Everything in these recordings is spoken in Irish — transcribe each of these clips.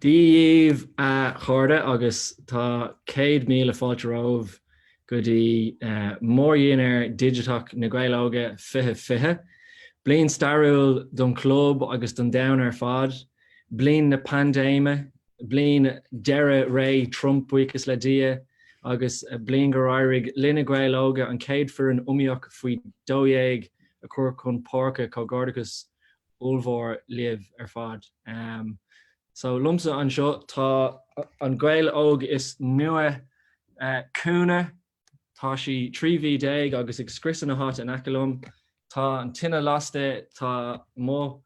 Dia daoibh a chairde agus tá céad míle fáilte romhaibh. go dtí Mórdhinnéar Digiteach na Gaeil Óga 2020. Bliain stairiúil don chlub agus don domhan ar fad. Bliain na paindéime, bliain deireadh ré Trump, buíochas le Dia, agus bliain gur éirigh linne Gaeil Óga an chéad foireann iomaíoch faoi 12 a chur chun páirce. Comhghairdeachas ollmhór libh ar fad. So liomsa anseo tá an Gael Óg is nua chugainn, tá sí 13 mhí agus ag scriosadh na háite in aice liom. Tá an tine lasta, tá mo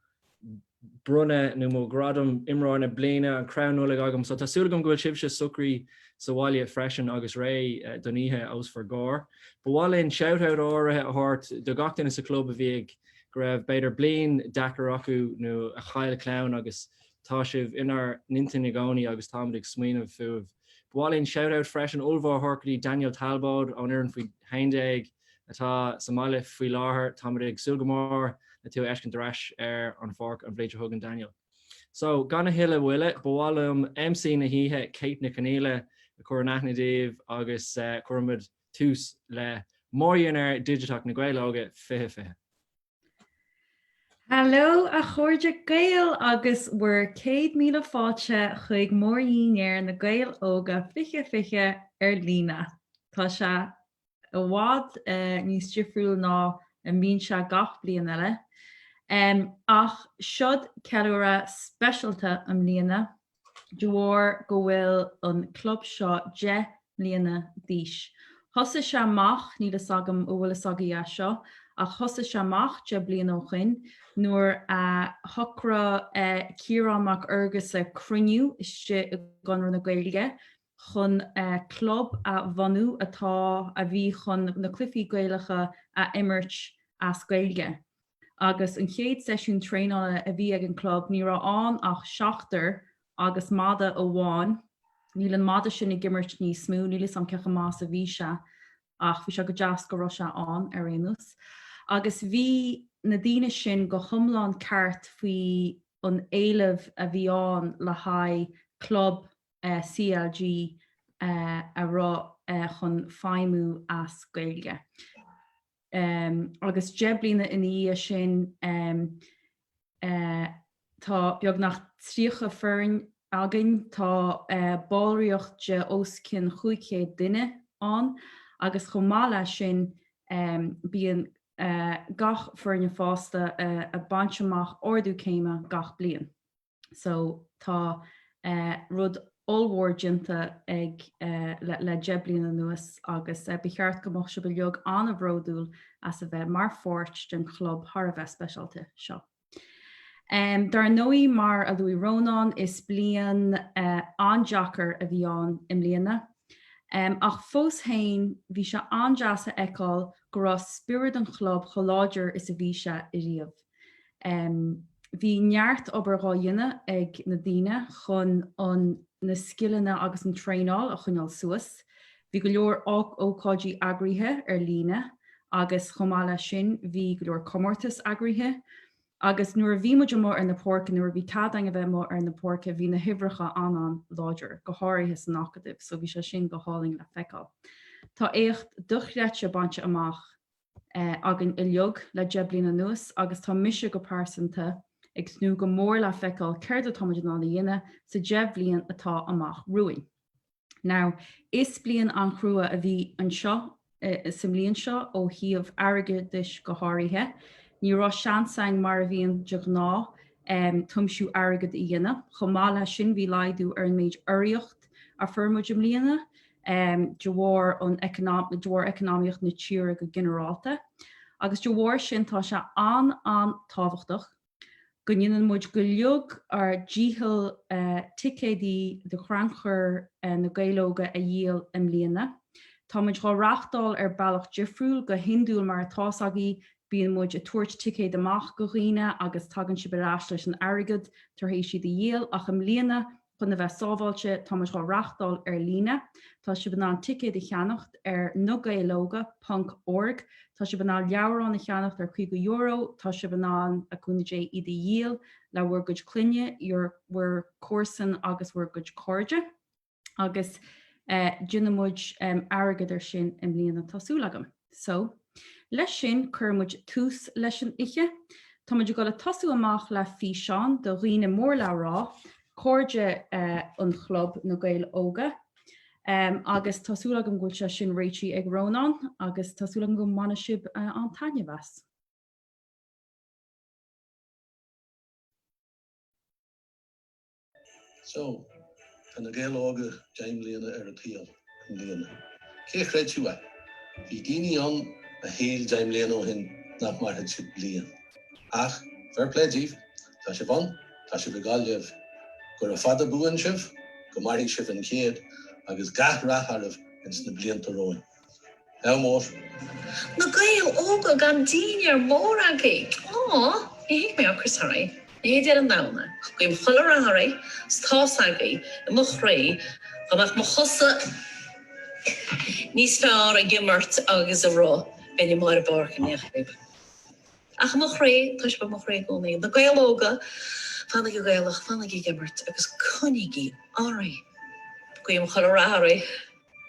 bronnadh nó mo ghradam imreoir na bliana, an crann Nollag agam, so tá súil agam go bhfuil sibhse socraithe sa bhaile freisin agus réidh don oíche atá os bhur gcomhair. Ba mhaith linn shout-out áirithe a thabhairt do gach duine sa chlub a bhí ag. go raibh b'fhéidir bliain deacair acu nó a chaill clann agus tá sibh inár n-intinn i gcónaí agus táimid ag smaoineamh fúibh. Ba mhaith linn shout out freisin ollmhór a thabhairt do Daniel Talbóid ón fhoireann faoi 11 atá sa mbaile faoi láthair. Táimid ag súil go mór le tú a fheiscint ar ais ar an pháirc an bhliain seo chugainn Daniel. So gan a thuilleadh moille ba mhaith liom MC na hoíche Kate Nic Conaola a chur in aithne daoibh agus cuirfimid tús le mórdhinnéar digiteach na Gaeil Óga 2020. Hello a chairde Gaeil agus bhur céad míle fáilte chuig Mórdhinnéar na Gaeil Óga 2020 ar líne. Tá sé i bhfad eh, níos difriúla ná a bhíonn sé gach bliain eile. Um, ach seod ceiliúradh speisialta i mbliana de bharr go bhfuil an club seo deich mbliana d'aois. Thosaigh sé amach, níl fhios agam an bhfuil fhios agaibh é seo, ach thosaigh sé amach deich mbliana ó shoin nuair a shocraigh Ciarán Mac Fhearghusa cruinniú istigh i gConradh na Gaeilge chun club a bhunú atá, a bhí chun na cluichí Gaelacha a imirt as Gaeilge. agus an chéad seisiún traenála a bhí ag an gclub ní raibh ann ach seachtar agus madadh amháin, níl an madadh sin ag imirt níos mó, níl fhios a'm cé chomh maith is a bhí sé ach bhí sé go deas go raibh sé ann ar aon nós. Agus bhí na daoine sin go hiomlán ceart faoi an éileamh a bhí ann le haghaidh club CLG a bhí chun feidhmiú as Gaeilge. Agus deich bliana ina dhiaidh sin tá beagnach tríocha foireann againn. Tá ballraíocht de os cionn chúig chéad duine ann agus chomh maith leis sin bíonn na foirne fásta ag baint amach ardú céime gach bliain. so tá rud ollmhór déanta againn le deich bliana anuas agus ba cheart go mbeadh sibh uilig an-bhródúil as a bheith mar pháirt den chlub thar a bheith speisialta seo. Ar ndóigh mar a luaigh Rónán is bliain an-deacair a bhí ann i mbliana. Ach fós féin bhí sé an-deas a fheiceáil go raibh spiorad an chlub chomh láidir is a bhí sé ariamh. Bhí neart obair dhá dhéanamh ag na daoine chun an na scileanna agus an traenáil a choinneáil suas. Bhí go leor ócáidí eagraithe ar líne agus chomh maith leis sin bhí go leor comórtas eagraithe. Agus nuair a bhí muid amuigh ar na páirceanna, nuair a bhí cead againn a bheith amuigh ar na páirceanna, bhí na huimhreacha an-an-láidir, go háirithe san Acadamh, so bhí sé sin go hálainn le feiceáil. Tá éacht dochreidte bainte amach againn uilig le deich bliana anuas agus tá mise go pearsanta ag tnúth go mór le feiceáil céard atáimid in ann a dhéanamh sa deich bhliain atá amach romhainn. Now, is bliain an-chrua a bhí anseo sa mbliain seo ó thaobh airgeadais go háirithe. Ní raibh seans againn mar a bhíonn de ghnáth tiomsú airgead a dhéanamh. Chomh maith leis sin bhí laghdú ar an méid urraíocht a fuair muid i mbliana. de bharr an economic, de bharr eacnamaíocht na tíre go ginearálta, agus de bharr sin tá sé an, an tábhachtach go ndéanann muid uilig ár dícheall ticéid do chrannchur Na Gaeil Óga a dhíol i mbliana. Tá muid dhá reáchtáil ar bealach difriúil, go hiondúil mar atá a fhios agaibh bíonn muid a' tabhairt ticéad amach go dhaoine agus tagann sibh ar ais leis an airgead tar éis iad a dhíol ach i mbliana Chun a bheith sábháilte táimid dhá reáchtáil ar líne. Tá sibh in ann ticéid a cheannacht ar nagaeiloga ponc org. Tá sibh in ann leabhráin a cheannacht ar caoga euro. Tá sibh in ann, le cúnamh Dé, iad a dhíol le bhur gcuid clainne, bhur, bhur gcomharsan agus bhur gcuid cairde. Agus déanfaimid airgead ar sin i mbliana tá súil agam. So, leis sin cuirfidh muid tús leis an oíche. Tá muid ag dul ag tosú amach le físeán de dhaoine mór le rá, cairde an chlub, Na Gaeil Óga. Agus tá súil agam go bhfuil sé sin réitithe ag Rónán agus tá súil agam go mbainfidh sibh an-taitneamh as. So, tá na Gaeil óga deich mbliana ar an tsaol i mbliana. Cé a chreidfeadh é? Bhí daoine ann a shíl deich mbliana ó shin nach mairfeadh sibh bliain. Ach, fair play díbh, tá sibh ann, tá sibh i nGaillimh. Gura fada buan sibh, go mairfidh sibh an chéad, agus gach rath oraibh ins na blianta romhainn. Ádh mór. Na Gaeil Óga an dinnéar mór agaibh! Aww! Ní thig mé ocras thar oí. Ní deir an damhna. Guím chuile rath oraibh 's tá's agaibh i mo chroí go mbeadh mo chosa níos fearr ag imirt agus a rith ná i mbarr na páirce i ndiadh sibh. Ach i mo chroí, tá sibh i mo chroí i gcónaí. Na Gaeil Óga, fanaigí Gaelach, fanaigí ag imirt agus coinnígí oraibh. Guím chuile rath oraibh.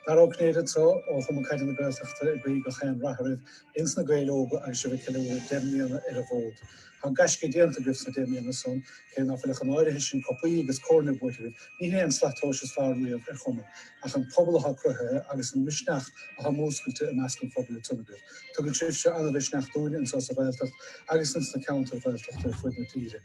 Dara Ó Cinnéide anso, ó Chumann Caide na Gaeltachta ag guí gach aon rath oraibh ins na Gaeil Óga agus sibh ag ceiliúradh deich mbliana ar an bhfód. Tá gaisce déanta agaibh sna deich mbliana san, cé ná fuil ach an áirithe sin cupaí agus coirne buaite agaibh. Ní hé an slat tomhais is fearr riamh ar chumann, ach an pobal athá cruthaithe agus an misneach athá múscailte i measc an phobail a thugann sibh. Tugann sibhse an-mhisneach dúinne anso sa Ghaeltacht agus ins na ceantair Ghaeltachta ar fuaid na tíre.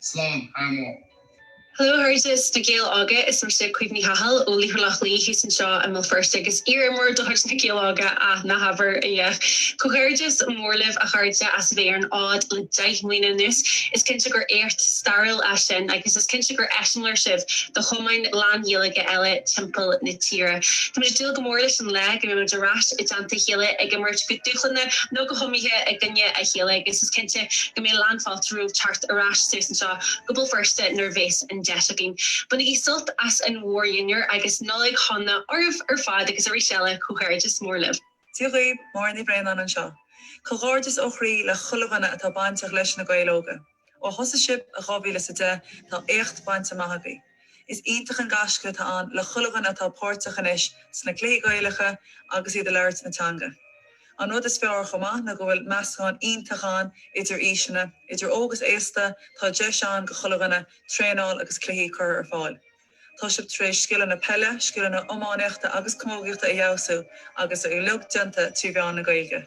Slán, a Mo. Hello, how are you? A Ghaeil Óga is mise Caoimhe Ní Chathail ó Laochra Loch Lao thuas anseo i mBéal Feirste agus iar-imreoir de chuid Na Gaeil Óga, ah, ná habair a dhath! Comhghairdeas mór libh, a chairde, as a bheith ar an fhód le deich mbliana anuas. Is cinnte gur éacht stairiúil é sin agus is cinnte gur eiseamláir sibh do chumainn lán-Ghaeilge eile timpeall na tíre. Táimid ag dúil go mór leis an lá go mbeimid ar ais i dteannta a chéile ag imirt go dúshlánach nó go hiomaíoch i gcoinne a chéile agus is cinnte go mbeidh lán oraibh teacht ar ais suas anseo go Béal Feirste nuair a bhéas an deis againn. Bainigí sult as an mhór-dhinnéar agus Nollaig Shona oraibh ar fad agus arís eile comhghairdeas mór libh. Dia dhaoibh, Máire Ní Bhraonáin anseo. Comhghairdeas ó chroí le chuile dhuine atá bainteach leis Na Gaeil Óga. Ó thosaigh sibh i 2010 tá éacht bainte amach agaibh. Is iontach an gaisce atá ann le chuile dhuine atá páirteach anois sna cluichí Gaelacha agus iad ag labhairt na teanga. An rud is fearr chomh maith ná go bhfuil meascán iontach ann idir aoiseanna, idir óg is aosta, tá deis ann do chuile dhuine traenáil agus cluichí a chur ar fáil. Tá sibh tar éis scileanna peile, scileanna iománaíochta agus camógaíochta a fheabhsú agus é uilig déanta trí mheán na Gaeilge.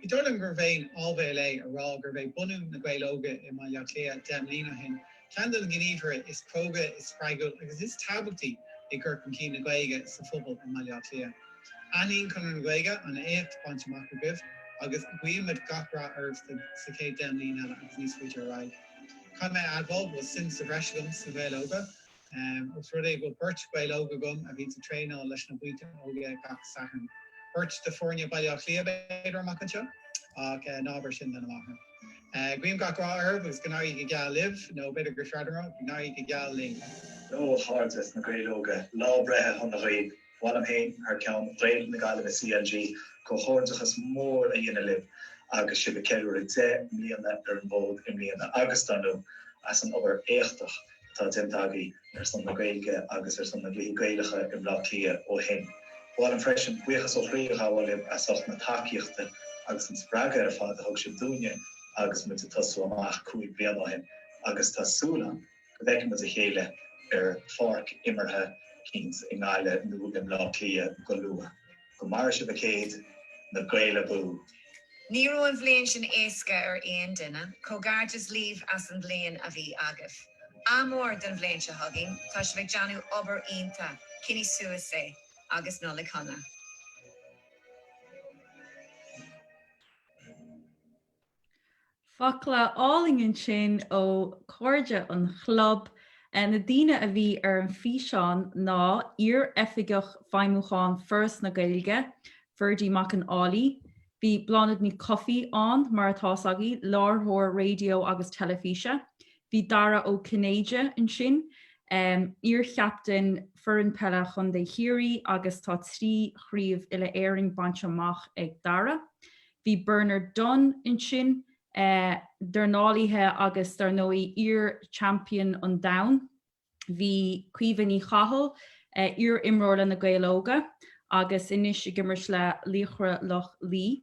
Ní dóigh liom gurbh aon áibhéil é a rá gurb é bunú Na Gaeil Óga i mBaile Átha Cliath deich mbliana ó shin ceann de na gníomhartha is cróga, is spreagúil agus is tábhachtaí i gcur chun cinn na Gaeilge sa phobal i mBaile Átha Cliath. Aithníonn Conradh na Gaeilge an éacht bainte amach agaibh agus guímid gach rath oraibh sa chéad deich mbliain eile agus níos faide ar aghaidh. Caithfidh mé a admháil go bhfuil suim sa bhreis agam sna Gaeil Óga, Ós rud é go bhfuil beirt Ghael óg agam a bhíonns ag traenáil leis na buíonta óige gach Satharn, beirt de foirne Bhaile Átha Cliath b'fhéidir amach anseo, ach ná abair sin lena máthair. Guím gach rath oraibh agus go n-éirí go geal libh, nó b'fhéidir gur fearrde mé, go n-éirí go geal linn. Ó a chairde sna Gaeil Óga, lá breithe shona dhaoibh! Ba mhaith liom féin, thar ceann Ghaeil na Gaillimhe CLG, comhghairdeachas mór a dhéanamh libh agus sibh a ceiliúradh deich mbliana ar an bhfód i mbliana agus, dar ndóigh, as an obair éachtach atá déanta agaí ar son na Gaeilge agus ar son na gcluichí Gaelacha i mBleá Cliath ó shin. Ba mhaith liom freisin buíochas ó chroí a ghabháil libh as ucht na tacaíochta agus an spreagadh ar fad a thug sibh dúinne agus muid a tosú amach cúig bliana ó shin agus tá súil agam go bhfeicfimid a chéile ar pháirc imeartha eicínt i nGaillimh nó i mBlá Cliath go luath. Go maire sibh an céad. Na Gaeil abú! Ní raibh an bhliain sin éasca ar aon duine, comhghairdeas libh as an bhliain a bhí agaibh. Ádh mór don bhliain seo chugainn, tá sibh ag déanamh obair iontach, coinnigh suas é, agus Nollaig Shona. Focla álainn ansin ó Cairde an Chlub. Na daoine a bhí ar an bhfíseán ná iar-Oifigeach Feidhmiúcháin Foras na Gaeilge, Ferdie Mac an Fhailigh, bhí Bláthnaid Ní Chofaigh ann, mar atá's agaibh, láithreoir raidió agus teilifíse, bhí Dara Ó Cinnéide ansin, iar-chaptaen Foireann Peile Chontae Chiarraí agus tá trí chraobh Uile-Éireann bainte amach ag Dara. Bhí Bernard Dunne ansin, dornálaí agus dar ndóigh iar-champion an domhain. Bhí Caoimhe Ní Chathail, iar-imreoir le na Gaeil Óga agus anois ag imirt le Laochra Loch Lao.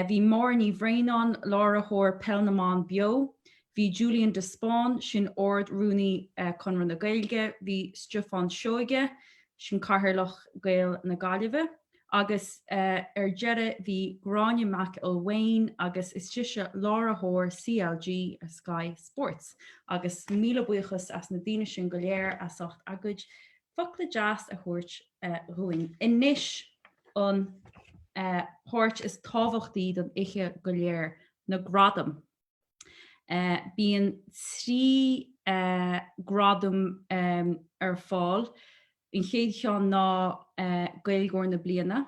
Bhí Máire Ní Bhraonáin, láithreoir Peil na mBan Beo. Bhí Julian de Spáinn, sin Ard Rúnaí Conradh na Gaeilge. Bhí Stiofán Seoige, sin Cathaoirleach Gaeil na Gaillimhe. Agus ar deireadh bhí Gráinne McElwain agus is sise láithreoir CLG ar Sky Sports. Agus míle buíochas as na daoine sin go léir as ucht a gcuid focla deas a thabhairt dhúinn. Anois an páirt is tábhachtaí don oiche go léir, na gradaim. Bíonn trí ghradam ar fáil, an chéad cheann ná Gaeilgeoir na Bliana.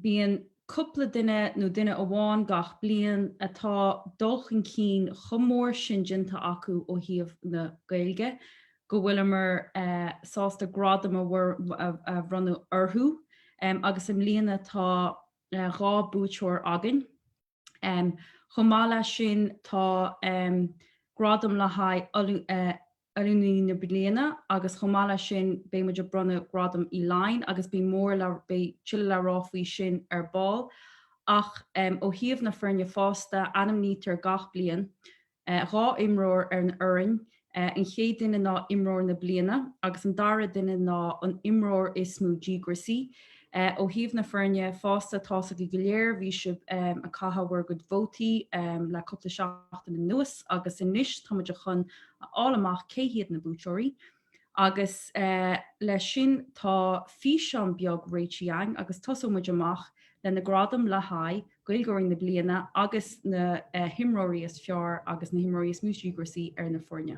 Bíonn cúpla duine nó duine amháin gach bliain atá dul chun cinn chomh mór sin déanta acu ó thaobh na Gaeilge go bhfuileamar sásta gradam a bhronnadh orthu agus i mbliana tá dhá buaiteoir againn. Chomh maith leis sin tá gradam le haghaidh Oiliúnaí na Bliana agus chomh maith leis sin beidh muid ag bronnadh Gradam Uí Laighin agus beidh mór beidh tuilleadh le rá faoi sin ar ball. Ach ó thaobh na foirne fásta, ainmnítear gach bliain, dhá imreoir ar an fhoireann, an chéad duine ná imreoir na bliana agus an dara duine ná an imreoir is mó díograisí. Ó thaobh na foirne fásta tá's agaibh go léir bhí sibh ag caitheamh bhur gcuid vótaí le cúpla seachtain anuas agus anois táimid chun a fháil amach cé hiad na buaiteoirí. Agus leis sin tá físeán beag réitithe againn agus tosóidh muid amach leis na gradaim le haghaidh Gaeilgeoirí na Bliana agus na himreoirí is fearr agus na himreoirí is mó díograisí ar na foirne.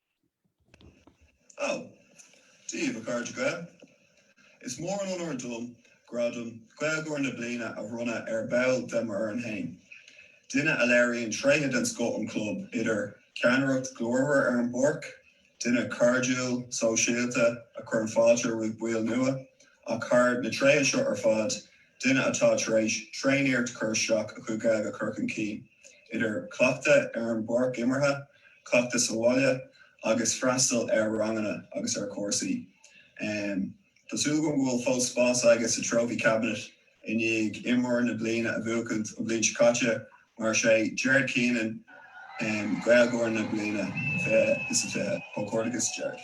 Dia daoibh a chairde Gael. Is mór an onóir dom gradam Gaeilgeoir na Bliana a bhronnadh ar ball de m'fhoireann fhéin, duine a léiríonn tréithe den scoth sa chlub, idir ceannaireacht ghlórmhar ar an bpáirc, duine cairdiúil, sóisialta, a chuireann fáilte roimh baill nua, ach thar na tréithe seo ar fad, Duine atá tar éis tréaniarracht cur isteach a chuid Gaeilge a chur chun cinn, idir chleachtadh ar an bpáirc imeartha, chleachtadh sa bhaile agus freastal ar ranganna agus ar chúrsaí. Tá súil agam go bhfuil fós spás aige sa Trophy Cabinet i ndiaidh imreoir na bliana a bhuachaint an bhliain seo caite, mar is é Gerard Keenan Gaeilgeoir na Bliana 2020. Comhghairdeas Gerard.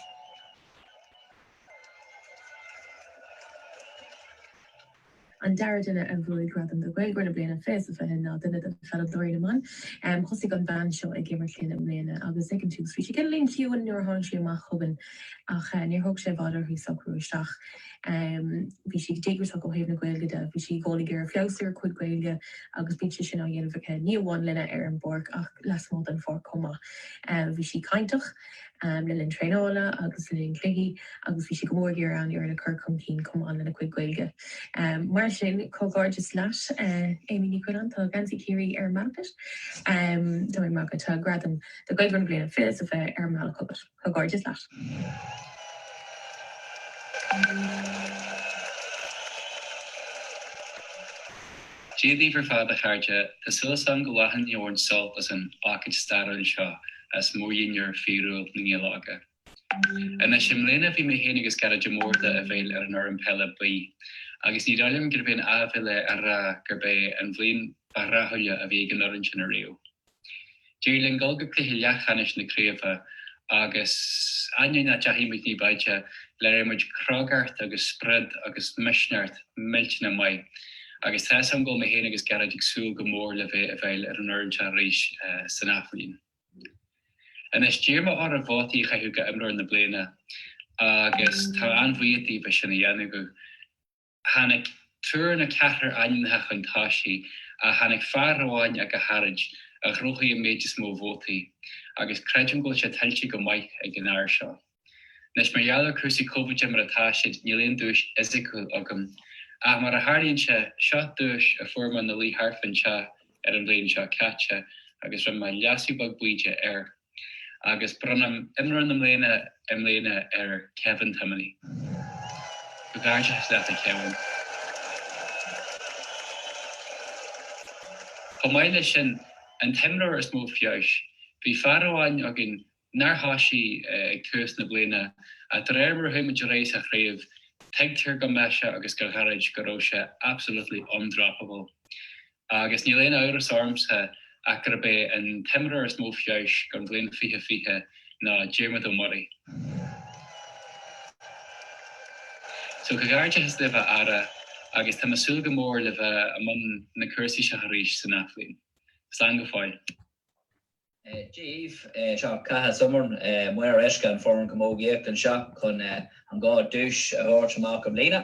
An dara duine a bhuaigh gradam do Ghaeilgeoir na Bliana 2020 ná duine de pheileadóirí na mban. Thosaigh an bhean seo ag imirt linn i mbliana agus ag an tús bhí sé cineáilín ciúin nuair a tháinig sí amach chugainn ach níor thóg sé i bhfad uirthi socrú isteach. Bhí sí díograiseach ó thaobh na Gaeilge de. Bhí sí i gcónaí ag iarraidh feabhsú ar a cuid Gaeilge agus bíonn sé sin á dhéanamh aici ní amháin linne ar an bpáirc ach lasmuigh den pháirc chomh maith. Bhí sí cainteach. le linn traenála agus le linn cluichí agus bhí sé go mór ag iarraidh an fhoireann a chur chun cinn chomh maith lena chuid Gaeilge. Mar sin, comhghairdeas leat Amy Ní Choileáin, tá geansaí Chiarraí ar an mbealach chugat. Tá mé ag magadh, tá gradam do Ghaeilgeoir na Bliana fiche fiche ar an mbealach chugat. Comhghairdeas leat. Dia daoibh ar fad, a chairde. Tá súil agam go bhfuil sibh ag baint sult as an ócáid stairiúil seo. as mórdhinnéar fíorúil na nGael Óga. Anois, i mbliana bhí mé féin agus Gearóid de Mórdha i bhfeighil ar an fhoireann peile B, agus ní dóigh liom gurb aon áibhéil é a rá gurb é an bhliain ba rathúla a bhí ag an fhoireann sin ariamh. D'éirigh linn dul go cluiche leathcheannais na craobhe, agus ainneoin nach dteachaidh muid ní b'fhaide, léirigh muid crógacht agus sprid agus misneacht millteanach maith. Agus tá's agam go bhfuil mé féin agus Gearóid ag súil go mór le bheith i bhfeighil ar an fhoireann seo arís san athbhliain. Anois, d'iarr mé orthu vótaí a chaitheamh do Imreoir na Bliana agus táim an-bhuíoch díobh as sin a dhéanamh. Tháinig triúr nó ceathrar ainmneacha chun tosaigh ach tháinig fear amháin ach go háirid a ghnóthaigh an méid is mó vótaí agus creidim go bhfuil sé tuillte go maith ag an fhear seo. Anois, mar gheall ar cúrsaí Covid mar atá siad, níl aon duais fhisiciúil agam. Ach mar a tharlaíonn sé, seo duais a fuair mé 'na luí thart faoin teach ar an bhliain seo caite agus rinne mé leasú beag baoideach air. Agus bronnaim Imreoir na Bliana i mbliana ar Kevin Timoney. Comhghairdeachas leat, a Kevin. Chomh maith leis sin, an t-imreoir is mó feabhais. Bhí fear amháin againn nár thoisigh ag tús na bliana, ach de réir mar a chuaigh muid ar aghaidh sa chraobh, tuigtear do mise agus do Ghearóid go raibh sé absolutely undroppable. Agus níl aon amhras ormsa ach gurb é an t-imreoir is mó feabhais don bhliain fiche fiche ná Diarmuid Ó Muirí. So comhghairdeachas libh a fheara agus tá mé ag súil go mór le bheith i mbun na cúrsaí seo arís san athbhliain. Slán go fóill. Daoibh, Eh, seo, caith as iomrn, eh, maor uisce an foireann camógaíocht anseo chun, eh, an dhá duais a thabhairt amach i mbliana.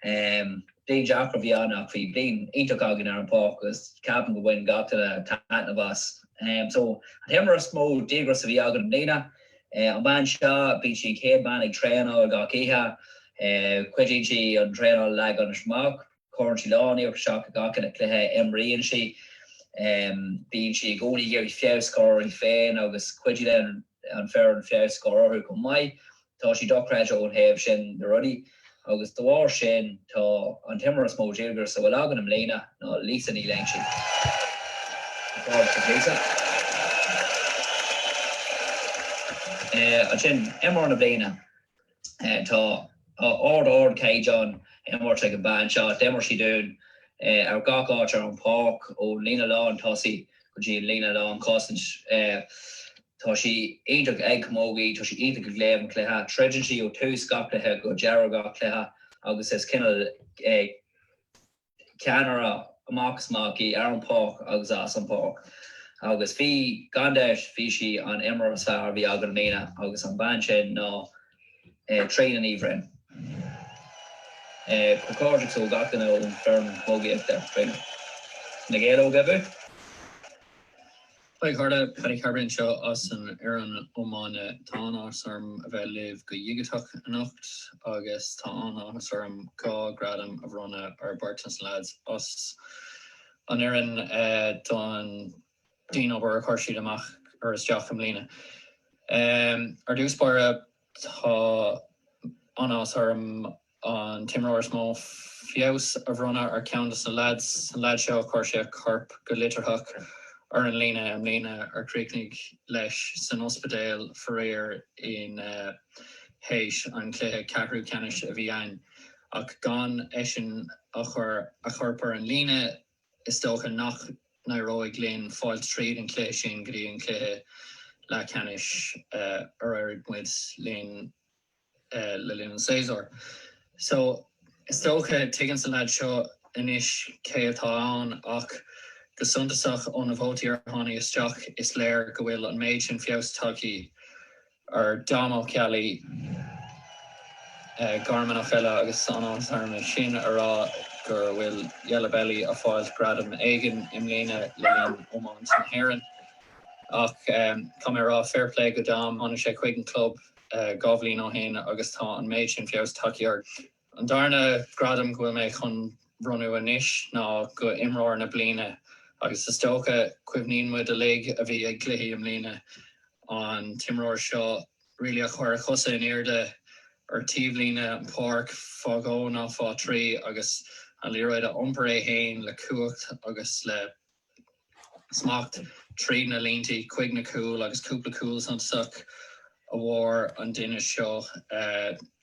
Eh, bliain deacair a bhí ann ach bhí bliain iontach againn ar an bpáirc agus ceapaim go bhain gach duine taitneamh as. Eh, so, an t-imreoir is mó díograis a bhí againn i mbliana. Eh, an bhean seo, bíonn sí an chéad bean ag traenáil gach oíche. Eh, cuidíonn sí an traenáil a leagan amach. Cuireann sí lán iarracht isteach i gach uile cluiche a imríonn sí. Bíonn sí i gcónaí ag iarraidh feabhas a chur uirthi féin agus cuidiú le an foireann feabhas a chur orthu chomh maith. Tá sí dochreidte ón thaobh sin de rudaí agus de bharr sin tá an t-imreoir is mó díograis a bhfuil againn i mbliana ná Lisa Ní Loingsigh. An comhghairdeas duit Lisa. Ansin, Imreoir na Bliana. Tá ard ard caighdeán imirt ag an bean seo. D'imir sí dúinn ar gach áit ar an páirc, ón líne lán tosaigh go dtí an líne lán cosaint. Tá sí iontach ag camógaí, tá sí iontach ag léamh an chluiche. Troideann sí ó tús gach cluiche go deireadh gach cluiche agus is cineál. ceannaire amach is amach í, ar an bpáirc agus as an bpáirc. Agus bhí, gan dabht, bhí sí an imreoir is fearr a bhí againn i mbliana agus an bhean sin ná Tríona Ní Bhroin. Comhghairdeachas ó gach duine ón bhfoireann camógaíochta a Tríona. Na Gaeil Óga abú! Haigh a chairde, Paddy Carbery anseo as an fhoireann iomána. Tá an-áthas orm a bheith libh go dhigiteach anocht agus tá an-áthas orm dhá ghradam a bhronnadh ar bheirt de na leaids as an fhoireann don dian-obair a chuir siad amach ar isteach i mbliana. Ar dtús báire, Tá an-áthas orm an t-imreoir is mó feabhas a bhronnadh ar cheann dos na leaids, an leaid seo a chuir sé a chorp go litearthach ar an líne i mbliana, ar chríochnaigh leis san ospidéal faraor ina héis an chluiche ceathrú ceannais a bhí ann, ach gan eisean a chur a chorp ar an líne, Is dócha nach n-éireoidh linn fáil tríd an cluiche sin go dtí an cluiche leathcheannais ar éirigh muid linn le linn an tséasúir. So, is dócha tuigeann sa leaid seo anois cé atá ann ach go suntasach ó na vótaí ar tháinig isteach is léir go bhfuil an méid sin feabhas tagthaí ar Dom Ó Ceallaigh, Garmanach eile agus tá an-áthas orm é sin, a rá gur bhfuil Yellow Belly ag fáilt gradam éigin i mbliana le linn iomáint na hÉireann. Ach caithfidh mé a rá fair play go Dom, tháinig sé chuig an club dhá bhliain ó shin agus tá an méid sin feabhas tagthaí air. An darna gradam go bhfuil mé chun bhronnadh anois ná go imreoir na bliana agus is dócha cuimhníonn muid uilig a bhí ag cluichí i mbliana an t-imreoir seo really a chuir a chosa in airde ar taobhlíne an páirc fá dhó ná fá thrí agus an liathróid a iompar é fhéin le cumhacht agus le smacht tríd na líntí chuig na cúil agus cúpla cúl suntasach a fuair an duine seo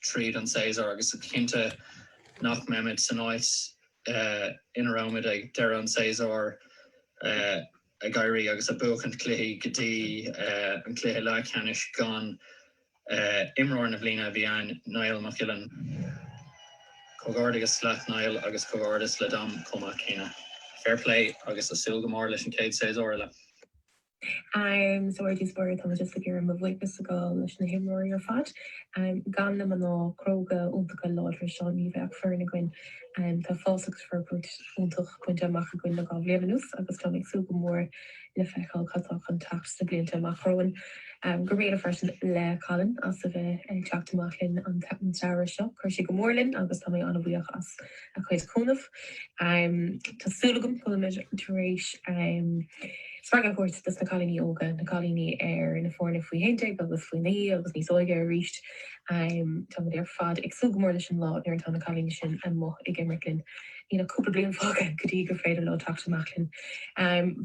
tríd an séasúr agus is cinnte nach mbeimis san áit ina rabhamar ag deireadh an tséasúir ag éirí agus ag buachaint cluichí go dtí an cluiche leathcheannais gan Imreoir na bliana a bhí ann Niall Mac Gillean. Comhghairdeas leat Niall agus comhghairdeas le Dom chomh maith céanna. Fair play agus ag súil go mór leis an chéad séasúr eile. Am soir dtí soir tá mise ag iarraidh mo bhuíochas a ghabháil leis na himreoirí ar fad. Gan na mná cróga iontacha láidre seo ní bheadh foireann againn. Tá fás agus forbairt iontach bainte amach againn le dhá bhliain anuas agus táim ag súil go mór le feiceáil cad tá chun teacht sna blianta amach romhainn. Go raibh míle freisin le Colin as a bheith ag teacht amach linn an samhradh seo. Chuir sé go mór linn agus tá mé an-bhuíoch as a chuid cúnaimh. Tá súil agam go bhfuilimid tar éis spreagadh a thabhairt dos na cailíní óga, na cailíní ar na foirne faoi haon déag agus faoi naoi agus níos óige arís. Táimid ar fad ag súil go mór leis an lá nuair atá na cailíní sin amuigh ag imirt linn. Níl ach cúpla bliain fágtha go dtí gur féidir leo teacht amach linn.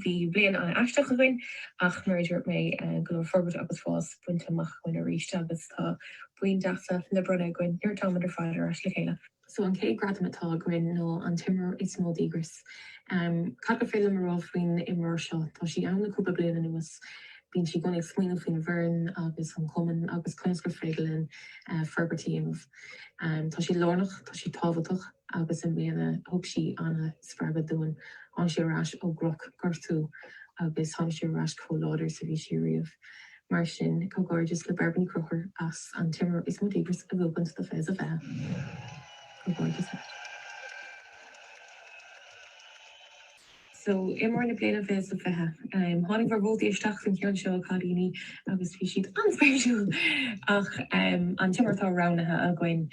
Bhí bliain an-aisteach againn ach mar a dúirt mé go leor forbairt agus fás bainte amach againn arís agus tá boinn deasa le bronnadh againn nuair atáimid ar fad ar ais le chéile. So an chéad gradam atá againn ná an t-imreoir is mó díograis. Cad gur féidir liom a rá faoin imreoir seo? Tá sí ann le cúpla bliain anuas. Bíonn sí i gcónaí ag smaoineamh faoin bhfoireann agus an cumann agus conas gur féidir linn forbairt a dhéanamh. Tá sí lárnach, tá sí tábhachtach. agus i mbliana thug sí an-spreagadh dúinn. Tháinig sí ar ais ó dhrochghortú agus tháinig sí ar ais chomh láidir is a bhí sí ariamh. Mar sin, comhghairdeas le Bairbre Ní Chonchúir as an t-imreoir is mó díograis a bhuachaint do fiche sa fiche. Comhghairdeas leat. So, imreoir na bliana 20 sa 20. Tháinig bhur vótaí isteach faoin cheann seo, a Chailíní, agus bhí siad an-spéisiúil! Ach an t-imreoir atá roghnaithe againn,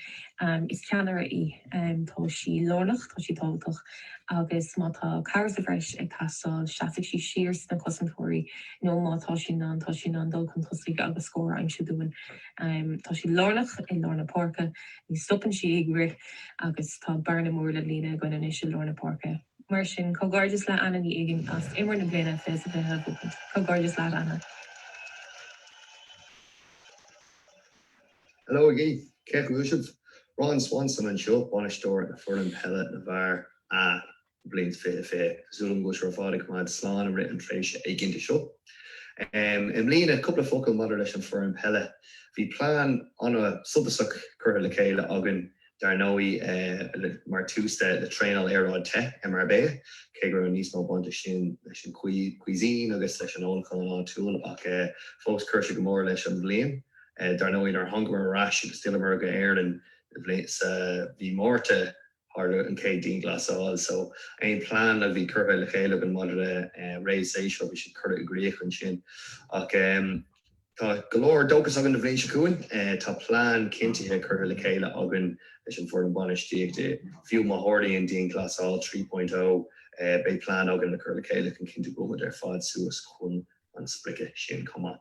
is ceannaire í. Tá sí lárnach, tá sí tábhachtach agus má tá cabhair sa bhreis ag teastáil, seasfaidh sí siar sna cosantóirí nó má tá sí in ann, tá sí in ann dul chun tosaigh agus scór a aimsiú dúinn. Tá sí lárnach i lár na páirce, ní stopann sí ag rith agus tá bearna mór le líonadh againn anois i lár na páirce. Mar sin, comhghairdeas le Anna Ní Uiginn as Imreoir na Bliana 20 sa 20 a bhuachaint. Comhghairdeas leat, Anna. Hello again! a dhaoine uaisle? Ron Swanson anseo, bainisteoir na foireann peile na bhfear A do bhliain 20 20. Tá súil agam go bhfuil sibh ar fad ag coimeád slán i rith an tréimhse éiginnte seo. I mbliana, cúpla focal maidir leis an foireann peile. Bhí plean an-suntasach curtha le chéile againn dar ndóigh, mar tús le traenáil aeráide te i Marbella, cé go raibh níos mó baint ag sin leis an cuisine agus leis an ólachán áitiúil, ach fós chuir sé go mór leis an mbliain. Dar ndóigh, nuair a thángamar ar ais agus d'fhilleamar go Éirinn i mí Márta, tharla an chéad dianghlasáil, so aon plean a bhí curtha le chéile againn maidir le réamhshéasúr, bhí siad curtha i gcrích ansin. Ach. Tá go leor dóchas againn don bhliain seo chugainn. Tá plean cinntithe curtha le chéile againn leis an bhfoireann bainistíochta. Fiú má tharlaíonn dianghlasáil 3.0, beidh plean againn le cur le chéile chun cinntiú go mbeimid ar fad suas chun an sprice sin chomh maith.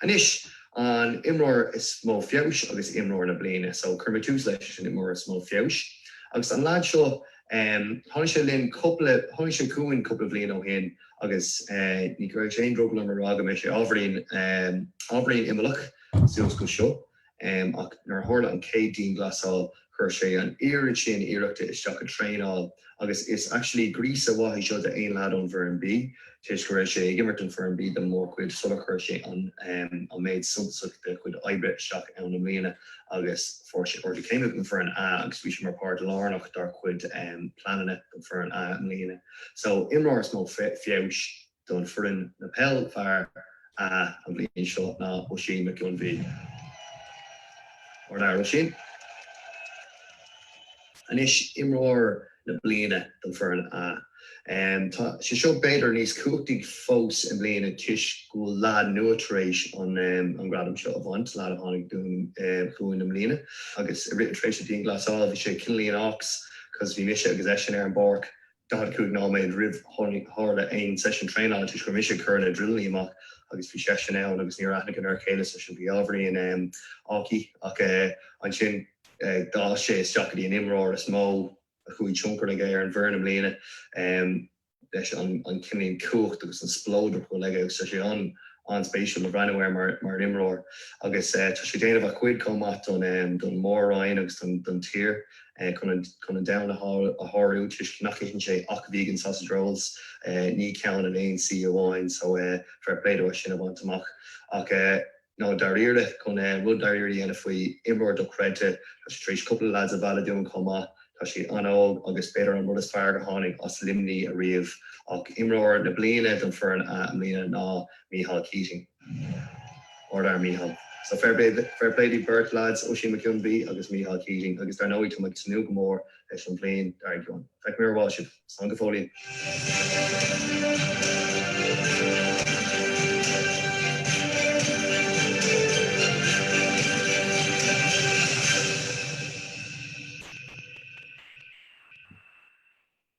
Anois, an imreoir is mó feabhais agus imreoir na bliana. So, cuirfimid tús leis an imreoir is mó feabhais. Agus an lead seo, tháinig sé linn cúpla, tháinig sé chugainn cúpla bliain ó shin Agus ní chuirfeadh sé aon drogall orm a rá go raibh sé ábhairín, ábhairín imeallach sa scuad seo. Ach nuair a tharla an chéad dianghlasáil chuir sé an oiread sin iarrachta isteach i dtraenáil agus is actually gríosadh maith é seo d'aon lad ón bhfoireann B, tar éis go raibh sé ag imirt don foireann B don mórchuid sular chuir sé an méid suntasach dá chuid oibre isteach i mbliana agus fuair sé ardú céime don foireann A agus bhí sé mar páirt lárnach dár chuid pleananna don foireann A i mbliana. So, imreoir is mó feabhais don foireann Peil Fear a an bhliain seo ná Oisín Mac Gionnbhaíl. Ard fhear Oisín. Anois imreoir na bliana don foireann a Tá sé seo b'fhéidir níos cumhachtaí fós i mbliana toisc go bhfuil leaid nua tar éis an an gradam seo a bhaint, leaid a tháinig dúinn chugainn i mbliana agus i rith an tréimhse dianghlasála bhí sé ciúin a ndóthain. because bhí mise agus eisean ar an bpáirc 45 nóiméad roimh tharla aon seisean traenála toisc go raibh mise ag cur na drileanna amach agus bhí seisean ann agus níor aithníomar a chéile. Seisean. Bhí ábhairín faiteach ach ansin d'fhás sé isteach go dtí an imreoir is mó a raibh tionchar aige ar an bhfoireann i mbliana. leis an cumas cumhacht agus an spleodar atá aige agus tá sé an-spéisiúil a bhreathnú air mar imreoir agus tá sé ag déanamh a chuid chomh maith don, don Mhór-Roinn agus don tír chun an domhan a shábháil toisc nach itheann sé ach vegan sausage rolls ní ceann in aon suí amháin so fair play dó é sin a bhaint amach ach no dáiríre, chun rud dáiríre a dhéanamh faoi imreoir dochreidte. Tá sé tar éis cúpla leaids a mhealladh dúinn chomh maith. Tá sé an-óg agus b'fhéidir an rud is fearr gur tháinig as Luimní ariamh ach imreoir na bliana don foireann a i mbliana ná Micheál Keating. Ard fhear Micheál. So fair play fair play daoibh beirt leaids, Oisín McKeon Bhí agus Micheál Keating agus dar ndóigh tá mé ag tnúth go mór leis an bhliain dár gcionn. Feicfimid ar ball sibh. Slán go fóillín.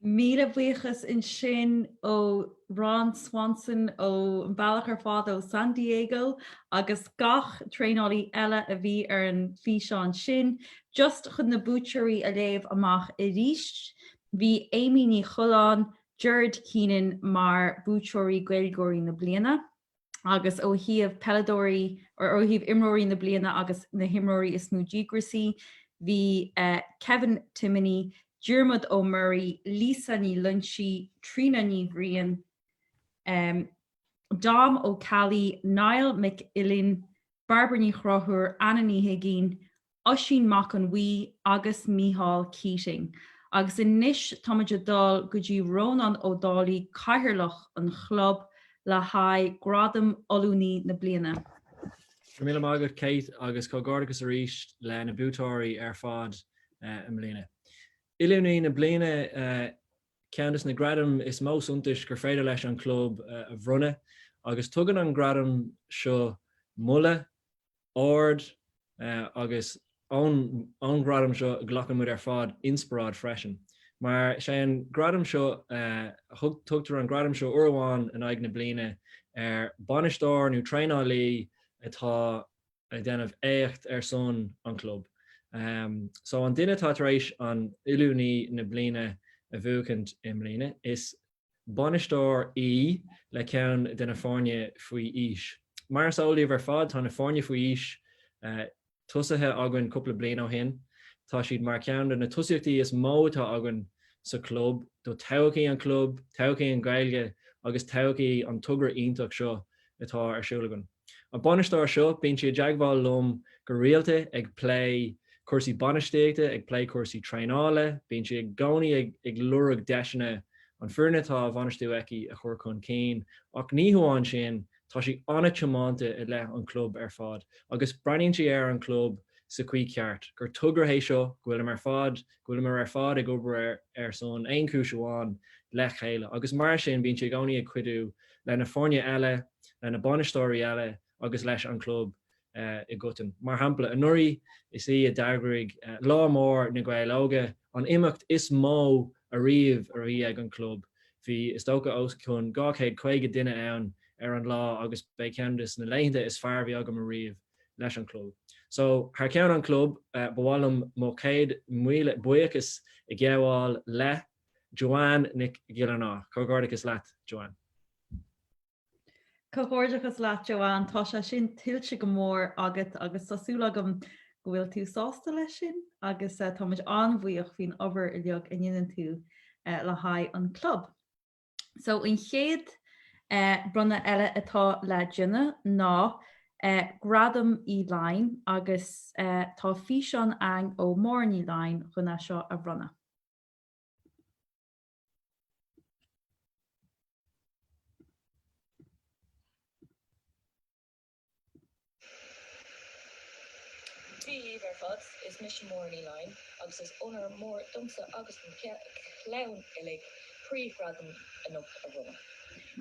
Míle buíochas ansin ó Ron Swanson an bealach ar fad ó San Diego agus gach traenálaí eile a bhí ar an bhfíseán sin. Just chun na buaiteoirí a léamh amach arís, bhí Amy Ní Choileáin, Gerard Keenan mar buaiteoirí Gaeilgeoirí na Bliana agus ó thaobh peileadóirí, or ó thaobh imreoirí na bliana agus na himreoirí is mó díograisí, bhí Kevin Timoney, Diarmuid Ó Muirí, Lisa Ní Loinsigh, Tríona Ní Bhriain, Dom Ó Ceallaigh, Niall Mac Uilinn, Bairbre Ní Chruthúir, Anna Ní hUiginn Oisín Mac an Bhuí agus Micheál Keating. Agus anois táimid a dul go dtí Rónán Ó Dálaigh Cathaoirleach an Chlub le haghaidh Gradam Oiliúnaí na Bliana. Go raibh míle maith agat Kate agus comhghairdeachas arís le na buaiteoirí ar fad i mbliana. Oiliúnaí na Bliana ceann des na gradaim is mó suntais gur féidir leis an Chlub a bhronnadh agus tugann an gradam seo moladh, ard agus ón ghradam seo glacann muid ar fad inspioráid freisin mar is é an gradam seo tugtar an gradam seo uair amháin in aghaidh na bliana ar bhainisteoir nó traenálaí atá ag déanamh éacht ar son an chlub. So an duine atá tar éis an oiliúnaí na bliana a bhuachaint i mbliana is bainisteoir í le ceann de na foirne faoi aois. Mar is eol daoibh ar fad tá na foirne faoi aois tosaithe againn cúpla bliain ó shin. Tá siad mar cheann de na tosaíochtaí is mó atá againn sa chlub, do thodhchaí an chlub, todhchaí an Ghaeilge agus todhchaí an togra iontach seo atá ar siúl againn. An bainisteoir seo, bíonn sí i dteagmháil liom go rialta ag plé cúrsaí bainistíochta, ag plé cúrsaí traenála, bíonn sí i gcónaí ag lorg deiseanna an foireann atá á bhainistiú aici a chur chun cinn ach ní hamháin sin, tá sí an-tiománta i leith an chlub ar fad agus breathnaíonn sí ar an chlub sa chaoi cheart, gur togra é seo, go bhfuilim ar fad go bhfuil muid ar fad ag obair ar son aon chúis amháin le chéile agus mar sin bíonn sí i gcónaí ag cuidiú le na foirne eile, le na bainisteoirí eile agus leis an club i gcoitinne. Mar shampla, anuraidh is í a d'eagraigh Lá Mór na Gaeil Óga, an imeacht is mó ariamh a bhí ag an club. Bhí is dócha os cionn 250 duine ann ar an lá agus b'é ceann de na laethanta is fearr a bhí agam ariamh. leis an gclub. So, thar ceann an gclub, ba mhaith liom mo chéad míle buíochas a ghabháil le Joanne Nic Giollarnáth. Comhghairdeachas leat, Joanne. Comhghairdeachas leat, Joanne. Tá sé sin tuillte go mór agat agus tá súil agam go bhfuil tú sásta leis sin agus táimid an-bhuíoch faoin obair uilig a ndéanann tú le haghaidh an gclub. So an chéad bronnadh eile atá le déanamh ná Gradam Uí Laighin agus tá físeán ann ó Máire Ní Laighin chun é seo a bhronnadh. Dia dhíbh ar fad. Is mise Máire Ní Laighin agus is onóir mhór domsa agus don chlann uilig príomh-ghradam anocht a bhronnadh,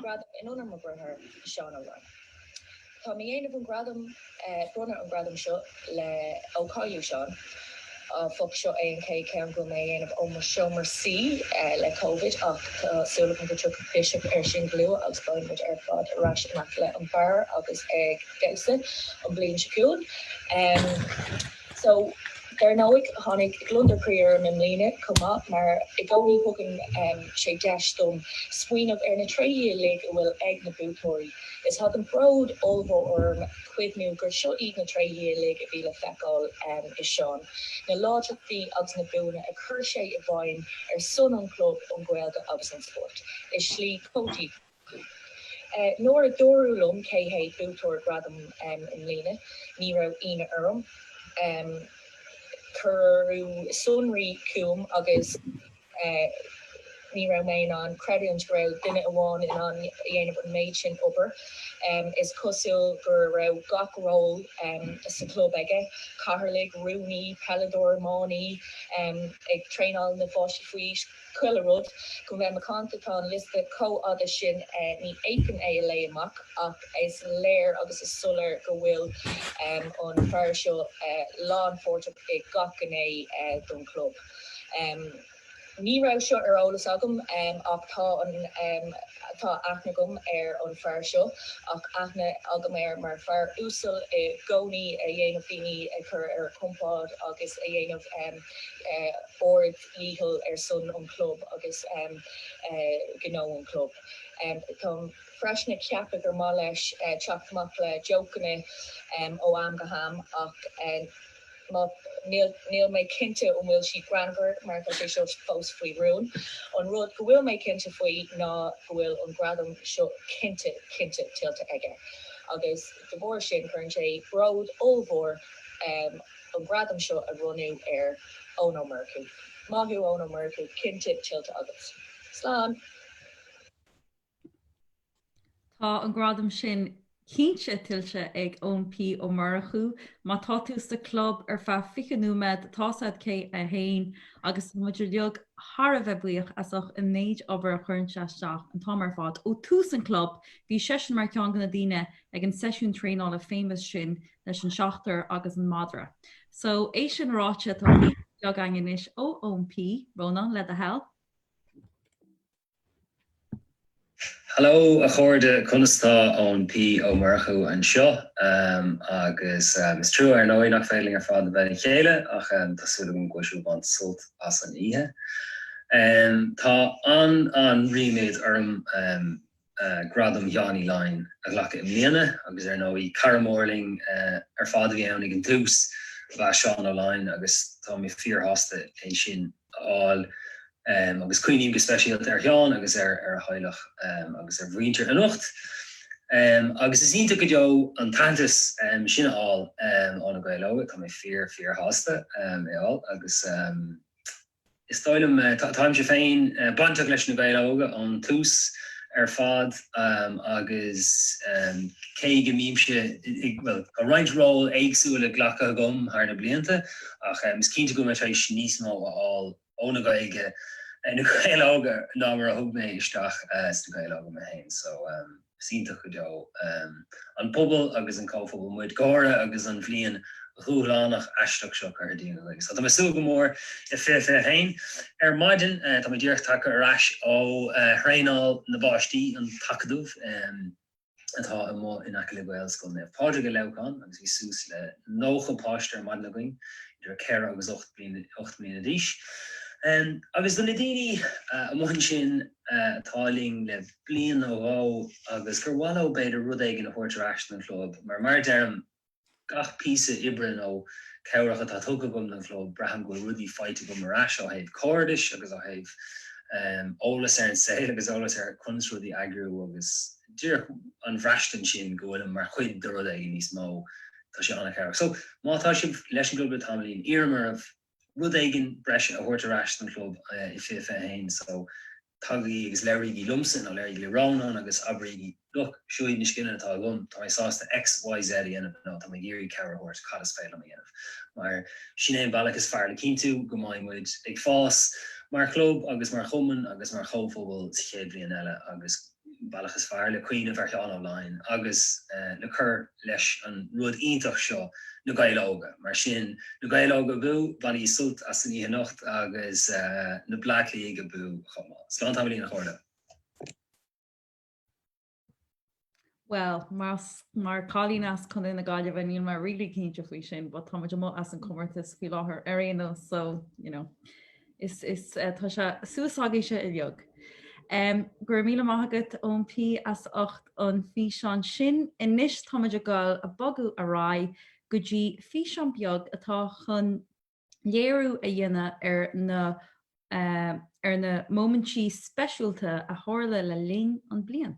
gradam in onóir mo dheartháir, Seán Ó Laighin. Táim a dhéanamh an gradam, bronnadh an ghradam seo, le ó cailleadh Seán. Áfach, seo é an chéad cheann go bhfuil mé a dhéanamh ó mo seomra suí le Covid ach tá súil agam go dtiocfaidh biseach ar sin go luath agus beidh muid ar fad ar ais in aice le an beár agus ag damhsa an bliain seo chugainn. So, dar ndóigh, tháinig gliondar croí orm i mbliana chomh maith mar i gcónaí thugann sé deis dom smaoineamh ar na tréithe uilig a bhfuil ag na buaiteoirí. Is thagann bród ollmhór orm cuimhniú gur seo iad na tréithe uilig a bhí le feiceáil i Seán, na láidreachtaí agus na buanna a chuir sé i bhfeidhm ar son an chlub, an Ghaeilge agus an spóirt i slí chomh díograiseach. Nuair a dúradh liom cé hé buaiteoir gradam i mbliana, ní raibh ionadh orm. Cuireadh sonraí chugam agus. eh. ní raibh mé in ann creidiúint go raibh duine amháin in ann a dhéanamh an méid sin obair. em. is cosúil go raibh gach ról em. sa chlub aige, cathaoirligh, rúnaí, peileadóir, iománaí, em. ag traenáil na bpáistí faoi aois, chuile rud. le bheith macánta tá an liosta chomh fhada sin eh. ní fhéadfainn é a léigh amach ach is léir agus is soiléir go bhfuil em. an fear seo eh. lánpháirteach i gach gné eh. don chlub. Ní raibh seo ar eolas agam ach tá an, tá aithne agam ar an fear seo ach aithne agam air mar fear uasal i gcónaí a dhéanamh daoine a chur ar a gcompord agus a dhéanamh ard-dhícheall ar son an chlub agus gnó an chlub. Táim freisin ag ceapadh gur maith leis teacht amach le jócanna ó am go ham ach Níl, níl mé cinnte an bhfuil sé greannmhar mar tá sé seo fós faoi rún. An rud go bhfuil mé cinnte faoi ná go bhfuil an gradam seo cinnte, cinnte tuillte aige agus de bharr sin cuireann sé bród ollmhór orm an gradam seo a bhronnadh ar Eoin Ó Murchú. Maith thú Eoin Ó Murchú, cinnte tuillte agat. Slán! Tá an gradam sin cinnte tuillte ag Eoin P. Ó Murchú. Má tá tú sa Chlub ar feadh 20 nóiméad, tá tú sa C1 agus tá muid uilig thar a bheith buíoch as ucht an méid obair a chuireann sé isteach an t-am ar fad ó tús an Chlub. Bhí seisean mar cheann de na daoine ag an seisiún traenála famous sin leis an seachtar agus an madra. So, é sin ráite, tá video beag 'ainn anois ó Eoin P. Rónán, le do thoil. Hello a chairde, conas tá? Eoin P Ó Murchú anseo agus is trua ar ndóigh nach féidir linn ar fad a bheith le chéile ach tá súil agam go bhfuil sibh ag baint sult as an oíche. Tá an-an-ríméad orm Gradam Sheáin Uí Laighin a ghlacadh i mbliana agus ar ndóigh cara mór linn ar fad a bhí ann ag an tús ab ea Seán Ó Laighin agus tá mé fíorshásta as sin. a fháil agus cuimhním go speisialta ar Sheán agus ar a theaghlach agus ar a mhuintir anocht agus is iontach go deo an t-aitheantas sin a fháil ó Na Gaeil Óga. Tá mé fíor, fíor shásta é a fháil agus is dóigh liom, táimse féin bainteach leis Na Gaeil Óga ón tús ar fad agus cé go mbímse, bhuel, tá roinnt ról éagsúla glactha agam thar na blianta, ach is cinnte go bhfuil mé tar éis níos mó a fháil ón nGaeilge, ó na Gaeil óga ná mar a thug mé isteach sna Gaeil óga mé féin so is iontach go deo an pobal agus an comhphobal muid i gcónaí agus an bhliain dhúshlánach aisteach seo curtha dínn againn so tá mé ag súil go mór le 2021. Ar maidin tá mé díreach tagtha ar ais ó thraenáil na bpáistí, an tAcadamh. atá amuigh in aice le Gaelscoil Naomh Pádraig i Leamhcán agus bhí suas le 90 páiste ar maidin againn idir 4 agus 8 mbliana d'aois agus do na daoine amuigh ansin atá linn le bliain nó dhó agus gur mhaith leo b'fhéidir rud éigin a thabhairt ar ais don chlub mar, mar a deirim, Gach píosa oibre nó cabhrach atá tugtha agam don chlub, braithim go bhfuil rudaí faighte agam ar ais ó thaobh cairdis agus ó thaobh eolas ar an saol agus eolas ar conas rudaí a eagrú agus díreach an bhraistint sin go bhfuilim mar chuid de rud éigin níos mó, tá sé an-chabhrach. So, má tá sibh leis an gclub le tamaillín, iarraim oraibh. rud éigin breise a thabhairt ar ais don chlub i 2021 so tagaigí agus labhraígí liomsa nó labhraígí le Rónán agus abraígí look, seo iad na scileanna atá agam, tá mé sásta X, Y, Z a dhéanamh nó tá mé ag iarraidh cabhair a thabhairt cad is féidir liom a dhéanamh mar sin é an bealach is fearr le cinntiú go mbeidh muid ag fás mar chlub agus mar chumann agus mar chomhphobal sa chéad bhliain eile agus go bealach is fearr le cuimhneamh ar Sheán Ó Laighin agus le cur leis an rud iontach seo Na Gaeil Óga. Mar sin, Na Gaeil Óga abú, bainigí sult as an oíche anocht agus na Bleá Cliathaigh abú chomh maith. Slán tamaillín a Shomhairle! Bhuel, más mar cailín as Contae na Gaillimhe, níl mé really cinnte faoi sin, but táimid amuigh as an comórtas faoi láthair ar aon nós so, you know. Is tá sé suas agaibhse a bheag. Go raibh míle maith agat Eoin P as ucht an físeán sin. Anois táimid ag gabháil a bogadh ar aghaidh go dtí físeán beag atá chun léiriú a dhéanamh ar na ar na móimintí speisiúlta a tharla le linn an bliain.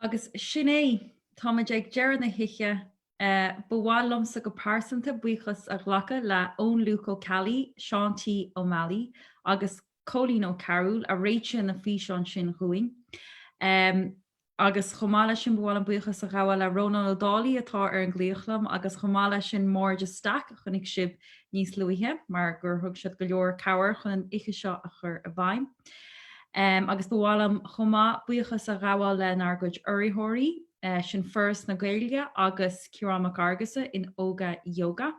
Agus sin é, táimid ag deireadh na hoíche. Ba mhaith liomsa go pearsanta buíochas a ghlacadh le Eoin Luc Ó Ceallaigh, Seán T. Ó Meallaigh agus Cóilín Ó Cearbhaill a réitigh na físeáin sin dhúinn. agus chomh maith leis sin ba mhaith liom buíochas a ghabháil le Rónán Ó Dálaigh atá ar an nglaoch liom agus chomh maith leis sin Máire de Staic a chonaic sibh níos luaithe mar gur thug siad go leor cabhair chun an oíche seo a chur i bhfeidhm. Um, agus ba mhaith liom chomh maith buíochas a ghabháil lenár gcuid urraitheoirí, eh, sin Foras na Gaeilge agus Ciarán Mac Fhearghusa in Óga Yoga.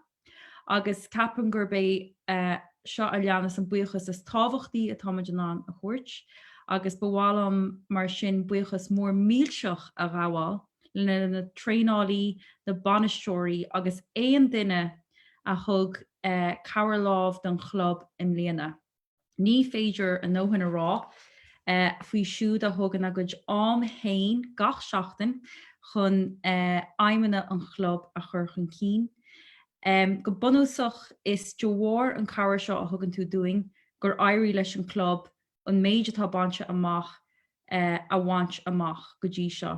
agus ceapaim gurb é seo a leanas an buíochas is tábhachtaí atáimid in ann a thabhairt, agus ba mhaith liom mar sin buíochas mór millteach a ghabháil le na traenálaí, na bainisteoirí agus aon duine a thug cabhair lámh don chlub i mbliana. Ní féidir a ndóthain a rá faoi siúd a thugann a gcuid am fhéin gach seachtain chun aidhmeanna an chlub a chur chun cinn. Go bunúsach is de bharr an cabhair seo a thugann tú dúinn gur éirigh leis an club an méid atá bainte amach a bhaint amach go dtí seo.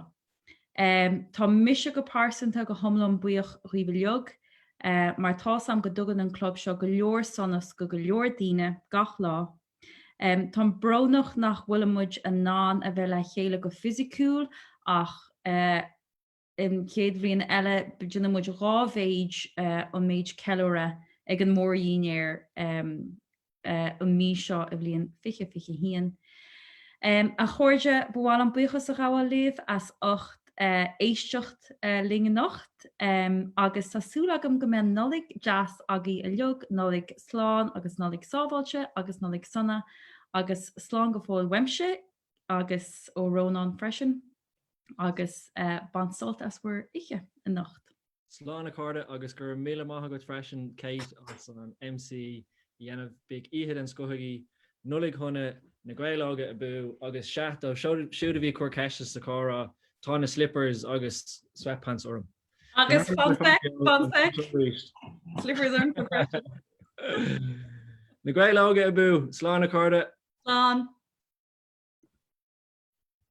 Tá mise go pearsanta go hiomlán buíoch dhaoibh uilig mar tá a fhios agam go dtugann an club seo go leor sonas go go leor daoine gach lá. Táim brónach nach bhfuilimid in ann a bheith le chéile go fisiciúil ach an chéad bhliain eile déanfaimid dhá mhéid an méid ceiliúradh ag an mór-dhinnéar. an mhí seo i mbliain fiche fiche haon. A chairde, ba mhaith liom buíochas a ghabháil libh as ucht éisteacht linn anocht agus tá súil agam go mbeidh Nollaig deas agaibh uilig, Nollaig slán agus Nollaig sábháilte agus Nollaig sona agus slán go fóill uaimse agus ó Rónán freisin. agus bain sult as bhur oíche anocht. Slán a chairde agus go raibh míle maith agat freisin Kate as an MC a dhéanamh bíodh oíche den scoth agaibh. Nollaig Shona na Gaeil Óga abú agus sea, dóibh siúd a bhí ag cur ceiste sa chomhrá, tá na slippers agus sweatpants orm. Agus fun fact, fun fact, slippers ormsa freisin. Na Gaeil Óga abú, slán a chairde! Slán.